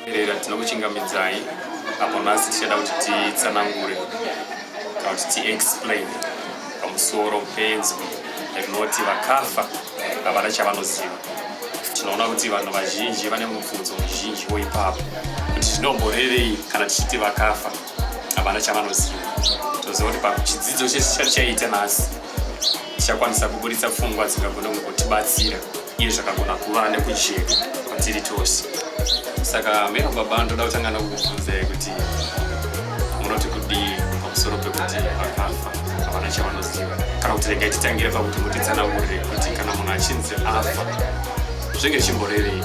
Rera tinokuchingamidzai apo nhasi tichada kuti titsanangure kana kuti tiexplain pamusoro penzo rinoti vakafa havana chavanoziva tinoona kuti vanhu vazhinji vane mubvunzo muzhinji woipapo kuti tinomborevei kana tichiti vakafa havana chavanoziva toziva kuti pachidzidzo chese chatichaita nhasi tichakwanisa kuburitsa pfungwa dzingagona kunge kutibatsira iye zvakagona kuva nekujeka kwatiri tose saka mero baba ndoda kutanga nokubvunzai kuti munoti kudii pamusoro pekuti vakafa havana chavanoziva kana kuti regai titangire pakuti mutitsanangurire kuti kana munhu achinzi afa zvenge chimborevei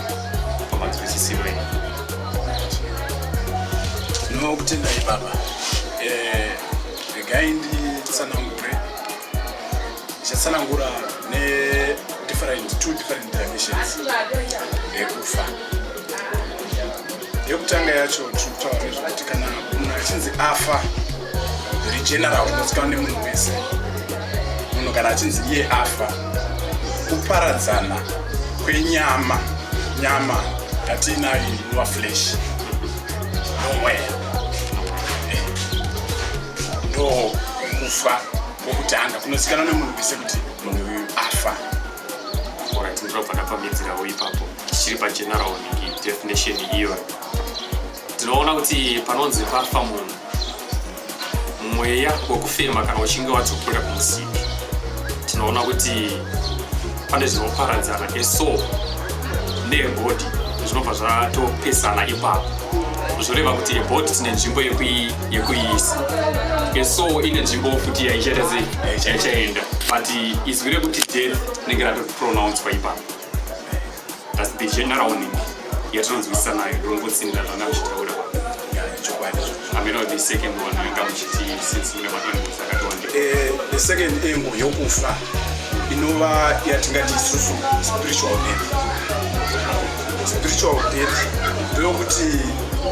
pamanzwisisiro enyu Tinokutendai baba. Eh, regai nditsanangure. Ndichatsanangura ne different two different dimensions yekufa. Yekutanga yacho tinotaura nezvekuti kana munhu achinzi afa zviri general unozikanwa nemunhu wese. Munhu kana achinzi iye afa kuparadzana kwenyama nyama yatiinayo inova flesh nomweya eh, ndo kufa kwokutanga kunozikanwa nemunhu wese kuti munhu uyu afa ndokubva ndapamidzirawo ipapo tichiri pachenaraoni definition iyoyo tinoona kuti panonzi pafa munhu mweya wekufema kana uchinge wadzokera kumusipi tinoona kuti pane zvinoparadzana eso nebhodhi zvinobva zvatopesana ipapo zvoreva kuti ebhodhi tine nzvimbo yekuiisa eso ine nzvimbo futi yaichaita sei yaichaenda but izwi rekuti death rinenge ratopronouncwa ipapo That's the general warning yatinonzwisisa nayo ndongotsinda zvanga muchitaura chokwadi ameno the second one yanga muchiti since mune maangozi akatowanda eh, the second angle yokufa inova yatingati isusu spiritual death spiritual death ndoyokuti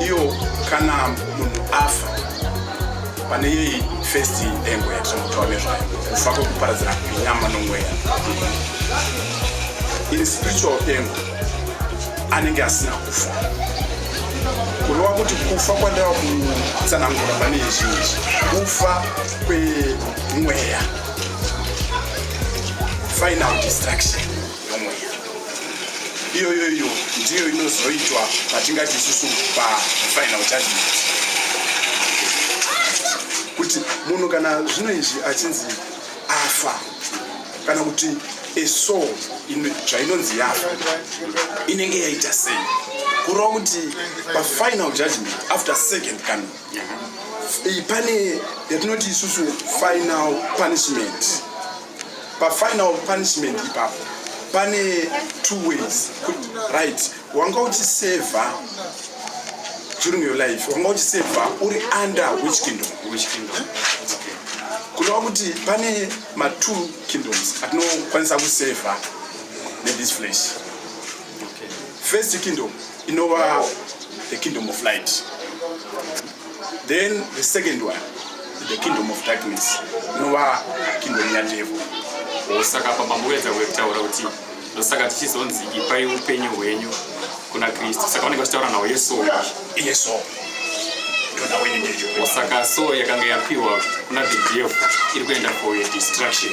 iyo kana munhu afa pane yei first engo yatinotaura nezvayo kufa kwekuparadzana kwenyama nomweya iri spiritual engo anenge asina kufa kureva kuti kufa kwandava kutsanangura pane izvi izvi kufa kwemweya final destruction yomweya iyoyo iyo ndiyo inozoitwa patingati isusu pafinal judgment kuti munhu kana zvino izvi achinzi afa kana kuti eso zvainonzi yafa inenge yaita sei kureva kuti pafinal judgment after second kano iyi pane yatinoti isusu final punishment pafinal punishment ipapo pane two ways kuti right wanga uchiseva during your life wanga uchiseva uri under which kingdom which kingdom okay. kunova kuti pane matwo kingdoms atinokwanisa kuseva nethis flesh okay. first kingdom inova the kingdom of light Then the second one, the kingdom of darkness, inova kingdom yadevil. Osaka apa mamboedza kutaura kuti ndosaka tichizonzi ipai upenyu hwenyu kuna Kristu. Saka vanenge vachitaura nawo Yesu. Yesu. Osaka so yakanga yapiwa kuna the devil iri kuenda for your destruction.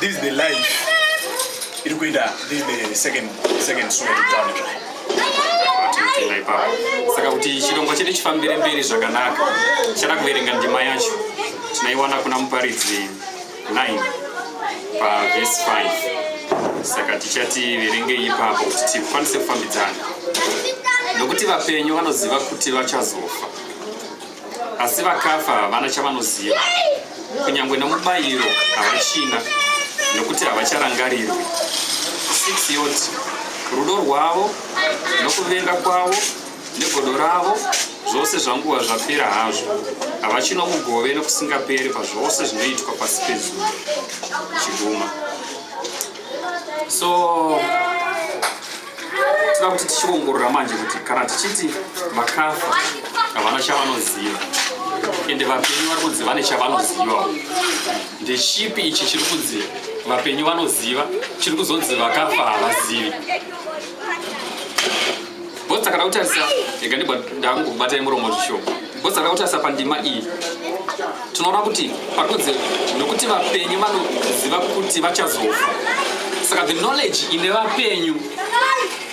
This is the life iri kuenda this is the second second story to tell you. Saka kuti chirongwa chedu chifambire mberi zvakanaka chada kuverenga ndima yacho tinaiwana kuna muparidzi 9 pavhesi 5 saka tichati verengei ipapo kuti tikwanise kufambidzana nokuti vapenyu vanoziva kuti vachazofa asi vakafa havana chavanoziva kunyange nomubayiro havachina nokuti havacharangarirwi 6 yoti rudo rwavo nokuvenga kwavo negodo ravo zvose zvanguva zvapera hazvo havachino mugove nokusingaperi pazvose zvinoitwa pasi pezuva chiguma so tinoda kuti tichiongorora manje kuti kana tichiti vakafa havana chavanoziva ende vapenyu vari kunzi vane chavanoziva ndechipi ichi chiri kunzi vapenyu vanoziva chiri kuzonzi vakafa havazivi bhosi takada kutarisa ega ndibva ndangokubatai muromo zvishoma Ngozi akautasa pandima iyi tinoona kuti pakunzi nokuti vapenyu vanoziva kuti vachazofa saka the knowledge ine vapenyu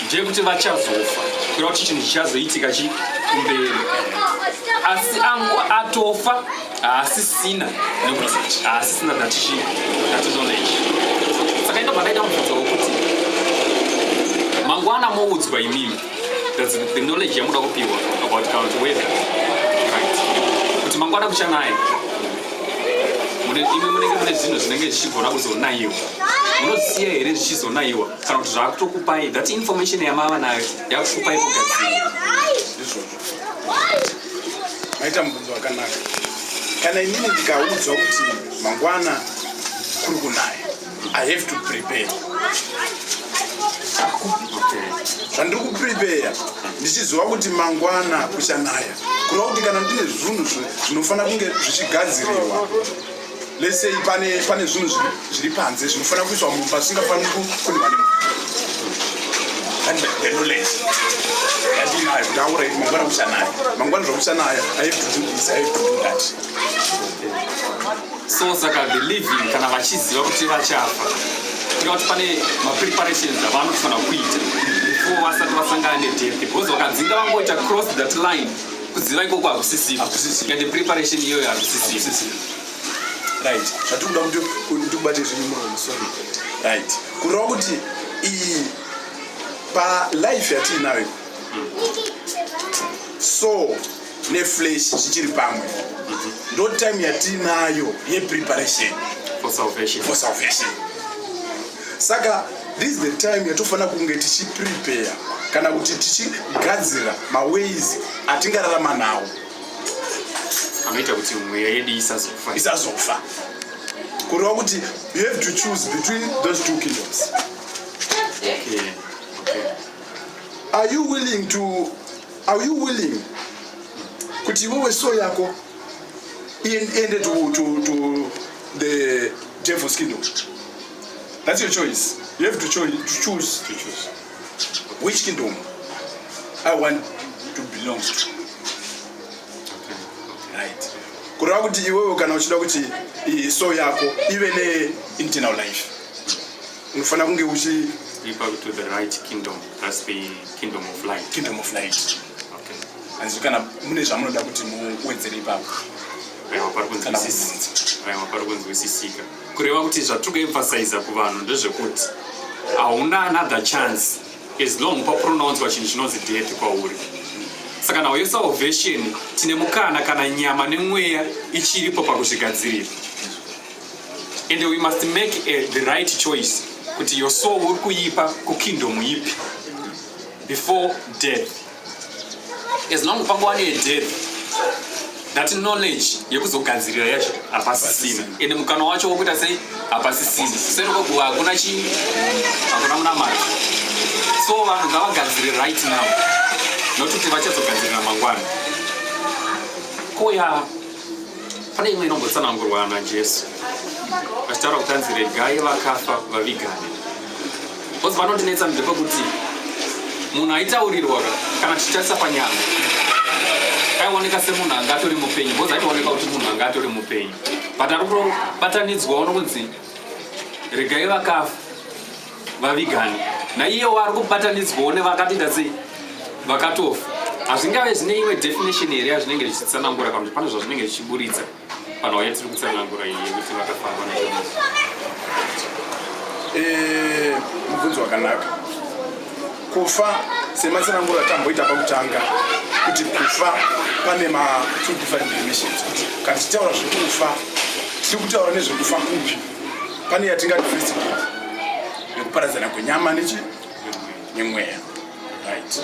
ndeyekuti vachazofa kura kuti chinhu chichazoitika chi kumberi asi angu atofa haasisina nekuti haasisina datichi dati knowledge saka ino pakaita mubvunzo wekuti mangwana moudzwa imimi That's the knowledge yamuda kupiwa about current weather. Right. Kuti mangwana kuchanaya. Mune imwe munenge mune zvinhu zvinenge zvichigona kuzonaiwa. Munosiya here zvichizonaiwa kana kuti zvakutokupai that information yamava nayo yakukupai kugadzira. Maita mubvunzo wakanaka. Kana inini ndikaudzwa kuti mangwana kuri kunaya I have to prepare. Zvandiri kuprepare ndichiziva kuti mangwana kuchanaya kureva kuti kana ndine zvinhu zvinofanira kunge zvichigadzirirwa let's say pane pane zvinhu zviri panze zvinofanira kuiswa munhu pasingafaniri kukundiwa ne and the knowledge yandinayo ndaura iti mangwana kuchanaya mangwana zvakuchanaya i have to do this i have to do that so saka the living kana vachiziva kuti vachafa tika kuti pane mapreparations avanofanira kuita before vasati vasangana nedeath because vakadzinga vangoita cross that line kuziva ikoko hakusisivo and the preparation iyoyo hakusisivo right zvatikuda kuti ndikubate zvinhu muromo sorry right kureva kuti iyi palife yatiinayo so neflesh zvichiri pamwe ndo time yatiinayo yepreparation for salvation, for salvation. saka this is the time yatofanira kunge tichiprepare kana kuti tichigadzira maways atingararama nawo anoita kuti mweya yedu isazofa isazofa kureva kuti you have to choose between those two kingdoms okay. Okay. are you willing to Are you willing kuti iwewe so yako iende to, to, to the devil's kingdom? That's your choice. You have to, cho to choose to choose which kingdom I want to belong to. Right. kureva kuti iwewe kana uchida kuti so yako ive ne internal life unofanira kunge uchiipa to the right kingdom thats the kingdom of light kingdom of light okay hanzi kana mune zvamunoda kuti muwedzere ipapo aiwa pari kunzwisisika aiwa pari kunzwisisika kureva kuti zvatiri kuemphasiza kuvanhu ndezvekuti hauna another chance as long papronounzwa chinhu chinonzi death kwauri saka nawo yesalvation tine mukana kana nyama nemweya ichiripo pakuzvigadzirira and we must make a, eh, the right choice kuti your soul uri kuipa kukingdom ipi before death as long pangu wane death that knowledge yekuzogadzirira yacho hapasisina ende mukana wacho wokuita sei hapasisina serokoguva hakuna chii hakuna munamata so vanhu ngavagadzire right now nokuti vachazogadzirira mangwana koya Pane imwe inombotsanangurwa naJesu achitaura kuti anzi regai vakafa vavigane bcause vanondinetsa mde kwekuti munhu aitaurirwa kana tichitarisa panyama aioneka semunhu anga atori mupenyu bcause aitooneka kuti munhu anga atori mupenyu but ari kutobatanidzwa uno kunzi regai vakafa vavigani naiyewo ari kubatanidzwawo nevakatiita sei vakatofa hazvingave zvine imwe definition here yazvinenge zvichitsanangura kana kuti pane zvazvinenge zvichiburitsa vanhu vaya tiri kutsanangura iyi yekuti vakafamba na eh, mubvunzo wakanaka kufa sematsanangura tamboita pakutanga kuti kufa pane ma two different definitions kuti kana tichitaura zvekufa tiri kutaura nezvekufa kupi Pane yatingati first death yekuparadzana kwenyama nechi nemweya right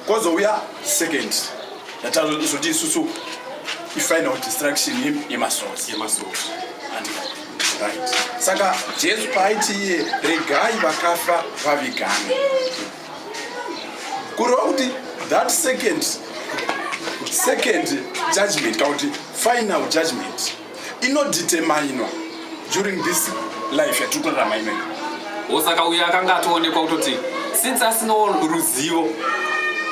kozouya second yatazoti isusu ifinal destruction yemasouls yemasouls right saka jesu paaiti iye regai vakafa vavigane kureva kuti that second second judgment kana kuti final judgment inodeterminwa during this life yatiri kurarama imene osaka uyo akanga atoonekwa kutoti since asina ruzivo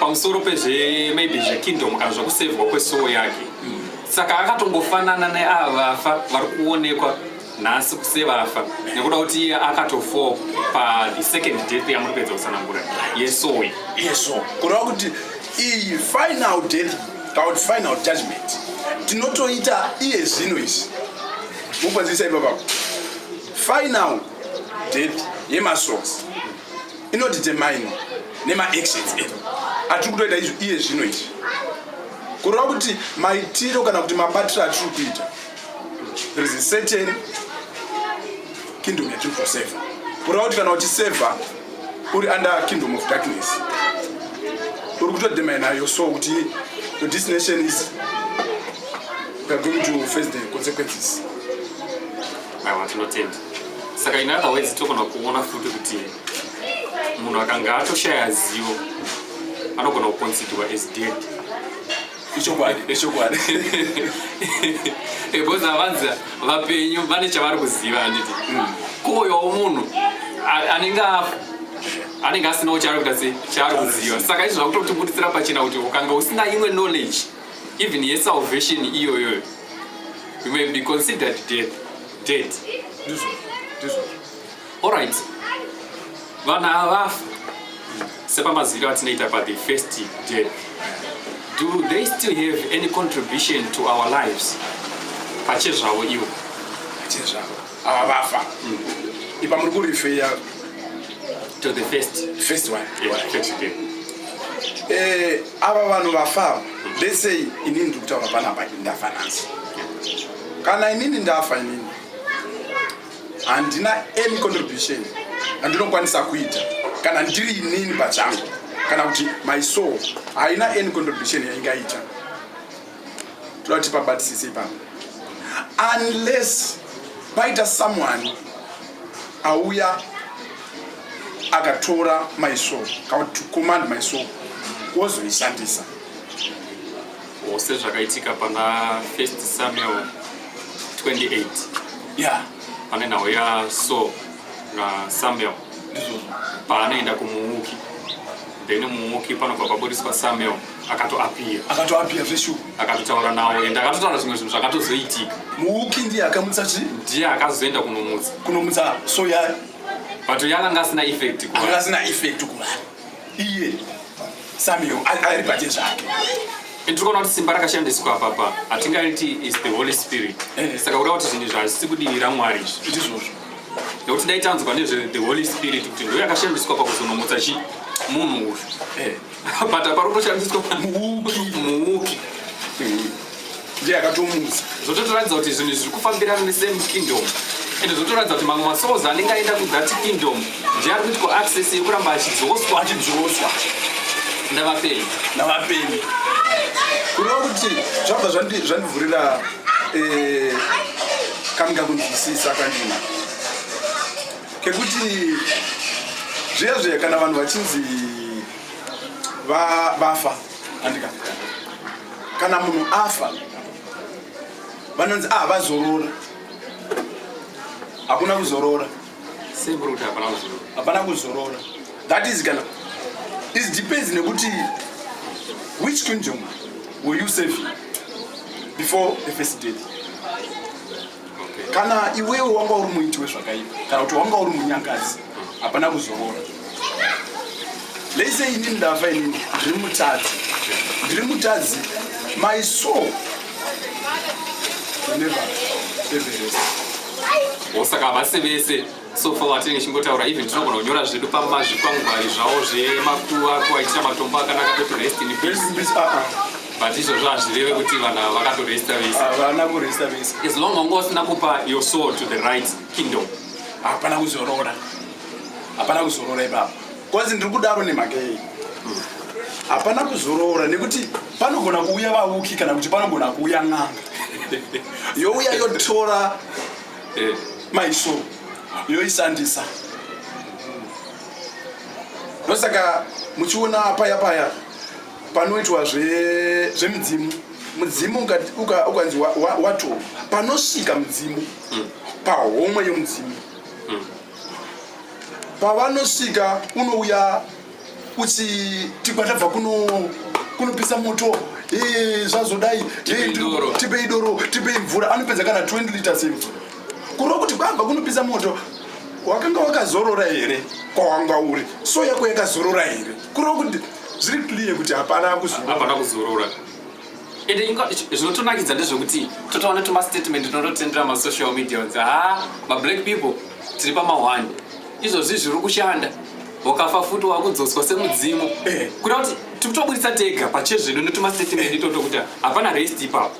pamusoro pezve maybe zvekingdom kana zvekusevhwa kwesowo yake saka akatongofanana neava vafa vari kuonekwa nhasi kusevafa nekuda kuti iye akatofo pathe second death yamuri kuedza kusanangura yesoyi yeso kureva kuti iyi final death about final judgment tinotoita iye zvino izvi mukwanzisa ipapapo final death yemasons inodetermine nemaactions edu atiri kutoita izvi iye zvino izvi kureva kuti maitiro kana kuti mabatiro atiri kuita there is a certain kingdom yatiri kuseva kureva kuti kana uchiseva uri under kingdom of darkness uri kutodemaya nayo so kuti your destination is you're going to face the consequences aiwa tinotenda saka in other words togona kuona futi kuti munhu akanga atoshaya zivo anogona kuconsiderwa as dead ichokwadi ichokwadi because havanzi vapenyu vane chavari kuziva handiti mm. kuoyawo munhu anenge afa anenge asinawo chaari kuita se chaari kuziva saka izvi zvakutotibuditsira pachena kuti ukanga usina imwe knowledge even yesalvation iyoyoyo you may be considered dead dead Alright. Vana havafi sepamaziviro atinoita pa the first day. Do they still have any contribution to our lives? Pache zvavo ivo. Pache zvavo. Ava vafa. Mm. Ipa muri kurifeya to the first first one. Yeah, first day. Eh, ava vanhu vafa. Mm. Let's say inini ndikutaura panapa ndafa nansi. Kana inini ndafa inini handina any contribution andinokwanisa kuita kana ndiri inini pachangu kana kuti my soul haina any contribution yaingaita toda kuti pabatisise ipapa unless paita someone auya akatora my soul kana kuti to command my soul wozoishandisa or sezvakaitika pana first samuel 28 yeah pane nhau ya so na samuel paanoenda kumuuki then muuki panobva pabudiswa samuel akatoapia akatoapia zveshu akatotaura nawo ende akatotaura zvimwe zvinhu zvakatozoitika muuki ndiye akamutsa chi ndiye akazoenda kunomutsa kunomutsa so ya but yakanga asina effect kuva asina effect kuva iye samuel ari pache zvake tikaona kuti simba rakashandiswa apapa hatingaiti is the holy spirit eh. saka kureva kuti zvinhu zvazvisi kudivi ramwari izvi ndizvozvo nekuti dai tanzwa nezve the holy spirit kuti ndo yakashandiswa pakuzonomutsa chi munhu uyu eh. but apari kutoshandiswa muuki muuki mm. ndiye akatomutsa zvototoratidza kuti zvinhu zviri kufambirana nesame kingdom ende zvotoratidza kuti mamwe masouls anenge aenda kuthat kingdom ndiye ari kuitwa access yekuramba achidzoswa achidzoswa ndavapenyu ndavapenyu kureva kuti zvabva zvandivhurira eh, kamika kunzwisisa kwandina kekuti zviya zviya kana vanhu vachinzi vafa andika kana munhu afa vanonzi ah vazorora hakuna kuzorora hapana kuzorora that is kana is depends nekuti which kingdom will you save before the first date kana iwewe wanga uri muiti wezvakaipa kana kuti wanga uri munyangazi hapana kuzorora lese ini ndafa ini ndiri mutadzi ndiri mutadzi my soul never everest osaka havasi vese so far watinenge chimbotaura even tinogona kunyora zvedu pamazvikwangwari zvavo zvemakuva kuvaitira matombo akanaka pekurest in peace ah, ah. but izvozvo hazvireve kuti vanhu ava vakatoresta vese havana kuresta vese as long onge usina kupa your soul to the right kingdom hapana kuzorora hapana kuzorora ipapa kwanzi ndiri kudaro nemhaka yei hapana kuzorora nekuti panogona kuuya vauki kana kuti panogona kuuya n'anga youya yotora eh. maiso yoisandisa ndosaka muchiona paya paya panoitwa zvemidzimu mudzimu ukanzi wato panosvika mudzimu mm. pahomwe yomudzimu mm. pavanosvika unouya uti tigwa tabva kunopisa moto zvazodai tipei doro tipei mvura anopedza kana 20 liters imvura kurova kuti kwabva kunopisa moto wakanga wakazorora here kwawanga uri so yako yakazorora here kurova kuti zviri clear kuti hapana kuzorora ende inga zvinotonakidza ndezvekuti totaona tumastatement tinototendera masocial media kuti ha mablack people tiri pamahwani izvozvi zviri kushanda wakafa futi wakudzoswa semudzimu eh. kuda kuti tikutoburitsa tega pachezvedu netumastatement eh. itoto kuti hapana rest ipapo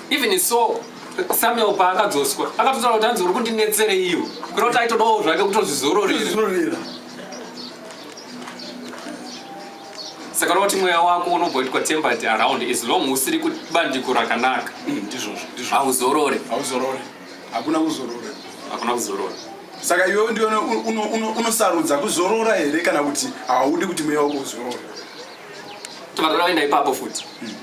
even so samuel paakadzoswa akatotaura kuti anzi uri kundinetsereiwo kuda kuti aitodawo zvake kutozvizororera saka unoti mweya wako unomboitwa tempered around as long usiri kubandiko rakanaka hmm, ndizvozvo ndizvo hauzorore hauzorore hakuna kuzorora hakuna kuzorora saka iwewe ndiwe unosarudza kuzorora here kana kuti haudi kuti mweya wako uzorora tobatoda kuenda ipapo futi hmm.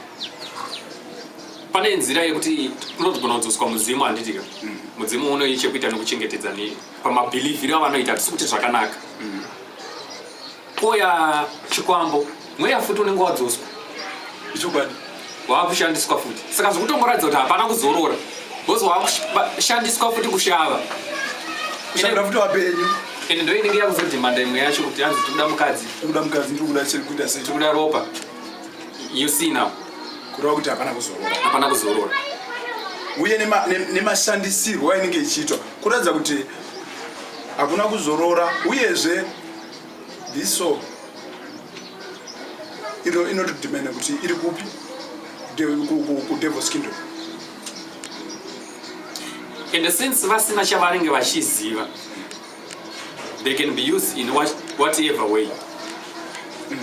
pane nzira yekuti unogona kudzoswa mudzimu handitika hmm. mudzimu unoyi chekuita nekuchengetedza nei pamabhilivhiri avanoita tisi kuti zvakanaka Koya chikwambo mweya futi unenge wadzoswa ichokwadi waakushandiswa futi saka zvikutongoratidza kuti hapana kuzorora bcause waakushandiswa futi kushava kushandira futi wapenyu ende ndo inenge yakuzodhimanda imwe yacho kuti hanzi tikuda mukadzi tikuda mukadzi tikuda chekuita sei tikuda ropa you see now kureva kuti hapana kuzorora hapana kuzorora uye nemashandisirwo ainenge ichiitwa kuratidza kuti hakuna kuzorora uyezve This song ino inotidimana kuti iri kupi kudevil's kingdom and since vasina chavanenge vachiziva they can be used in whatever way mm.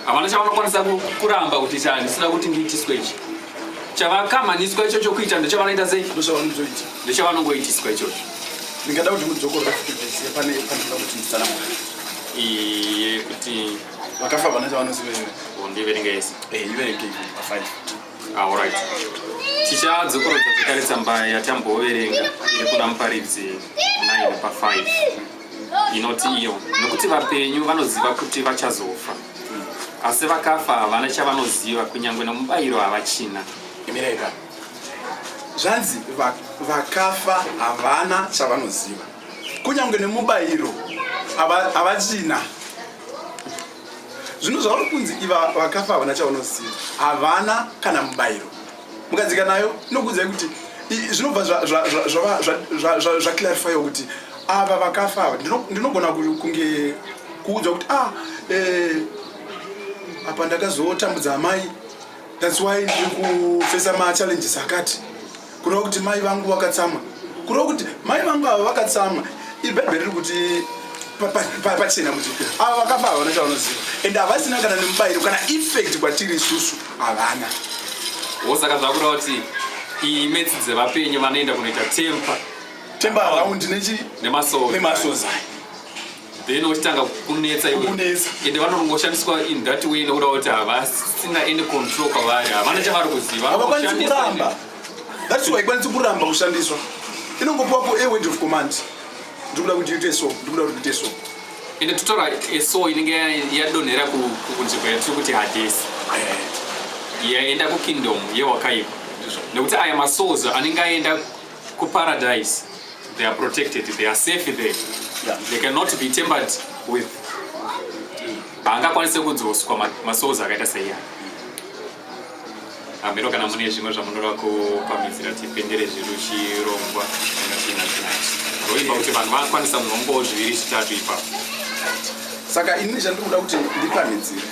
havana chavanokwanisa kuramba kuti chandisina kuti ndiitiswe ichi chavakamhaniswa icho chokuita ndochavanoita sei ndochavanongoitiswa ichocho ndingada kuti mudzokorora futi vese pane pandinoda kuti ndisana iye kuti vakafa vana chavanoziveera oh, ndiverenge yese eh, iverenge afive aorit ah, tichadzokorodza zvekare tsamba yatamboverenga iri kuna muparidzi 9 pa 5 inoti iyo nokuti vapenyu vanoziva kuti vachazofa asi vakafa havana chavanoziva kunyange nomubayiro havachina imireka zvanzi vakafa havana chavanoziva kunyange nemubayiro havachina zvino zvauri kunzi iva vakafa havana chavanoziva havana kana mubayiro mukadzika nayo inokuudzai kuti zvinobva zvaclarifya kuti ava vakafa ava ndinogona kunge kuudzwa kuti ah eh, apa ndakazotambudza amai thats why ndiri kufesa machallenges akati kureva kuti mai vangu vakatsamwa kureva kuti mai vangu ava vakatsamwa ibhebhe riri kuti pachena kuti ava vakafa ava vanoita vanoziva and havasina kana nemubayiro kana effect kwatiri isusu havana wo saka zvakureva kuti iyi metsi dzevapenyu vanoenda kunoita tempa tempa araundi nechi nemasoza then ochitanga kunetsa iwekunetsa ende vanongoshandiswa in that way nekuda kuti havasina any control kwavari havana chavari kuziva havakwanisi kuramba that's why ikwanisi kuramba kushandiswa inongopiwapo a word of command ndikuda kuti ite so ndikuda kuti ite so ende totora eso inenge yadonhera kunzvimbo yatiri kuti hadesi eh. yaenda kukingdom yewakaipa nekuti aya masouls anenge aenda kuparadise they are protected they are safe there yeah. they cannot be tempered with haangakwanise kudzoswa masouls akaita seiya hameno kana mune zvimwe zvamunoda kupamhidzira tipendere zvedu chirongwa roimba kuti vanhu vakwanisa munhombowo zviviri zvitatu ipapo saka ini chandiri kuda kuti ndipamhidzire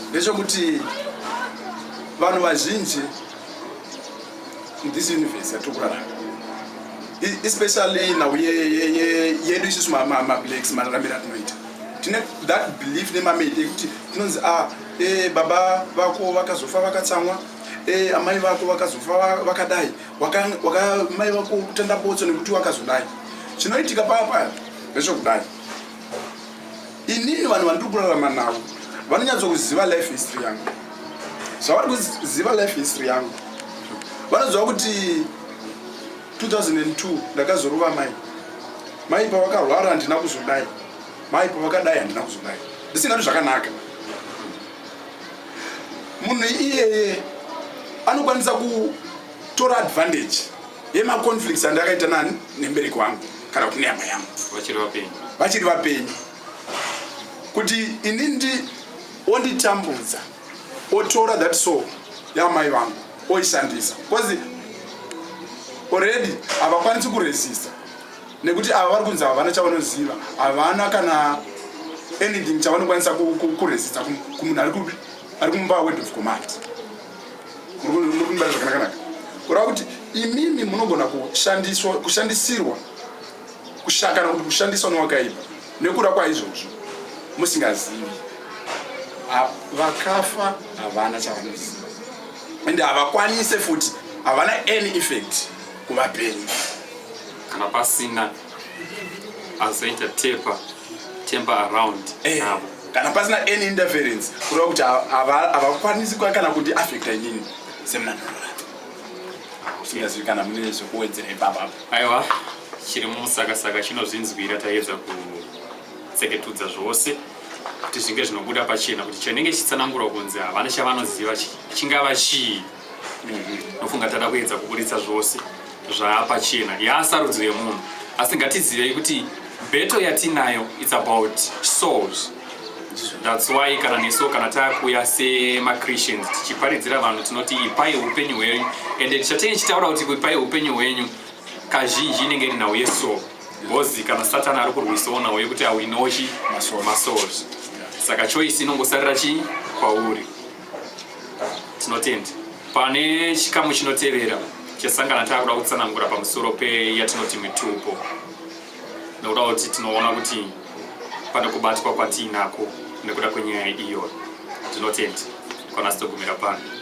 ndechekuti vanhu vazhinji muthis universe yatiri kurarama especially nhau yedu isusu mablacks mararamiro atinoita tine that belief nemamedi ekuti tinonzi a ah, e, baba vako vakazofa vakatsamwa e, amai vako vakazofa vakadai waka, waka, mai vako kutenda botso nekuti wakazodai chinoitika paya paya ndechokudai inini vanhu vandiri kurarama navo vanonyatsokuziva life history yangu zvavari kuziva life history yangu vanoziva kuti 2002 ndakazorova mai mai pavakarwara handina kuzodai Mai pavakadai handina kuzodai ndisingadi zvakanaka. Munhu iyeye anokwanisa kutora advantage yemaconflicts andakaita nani nembereki wangu kana kuti nehama yangu vachiri vapenyu vachiri vapenyu kuti ini ndi onditambudza otora that soul yamai vangu oishandisa bcause already havakwanisi kuresisa nekuti ava vari kunzi havana chavanoziva havana kana anything chavanokwanisa kuresisa kumunhu ari kumumba word of command zvakanakanakanaka kureva kuti imimi munogona kushandiswa kushandisirwa kushakana kuti kushandiswa nowakaipa nekuda kwaizvozvo musingazivi vakafa havana chavanoziva ende havakwanise futi havana any effect kuvapenyu kana pasina azoita tepa temper around hey. Eh, navo kana pasina any interference kureva kuti havakwanisi kuva kana kuti affecta nyini semunanhorora usingazivi kana mune zvekuwedzera ipapapo aiwa chiri mumusakasaka chinozvinzwira taiedza kutseketudza zvose kuti zvinge zvinobuda pachena kuti chinenge chitsanangurwa kunzi havana chavanoziva chingava chii ndofunga tada kuedza kuburitsa zvose zvaapachena yaasarudzo yemunhu asi ngatizivei kuti beto yatinayo its about souls thats why kana neso kana takuya semachristians tichiparidzira vanhu tinoti ipai upenyu hwenyu ende tichatei chitaura kuti ipai upenyu hwenyu kazhinji inenge iri nhau yeso bcoz kana satani ari kurwisawo nhau yekuti awinochi masouls saka choice inongosarira chii kwauri tinotenda pane chikamu chinotevera chesangana taakuda kutsanangura pamusoro peyatinoti mitupo nekuda kuti tinoona kuti pane kubatwa kwatiinako nekuda kwenyaya iyoyo tinotenda kwanasitogumira pano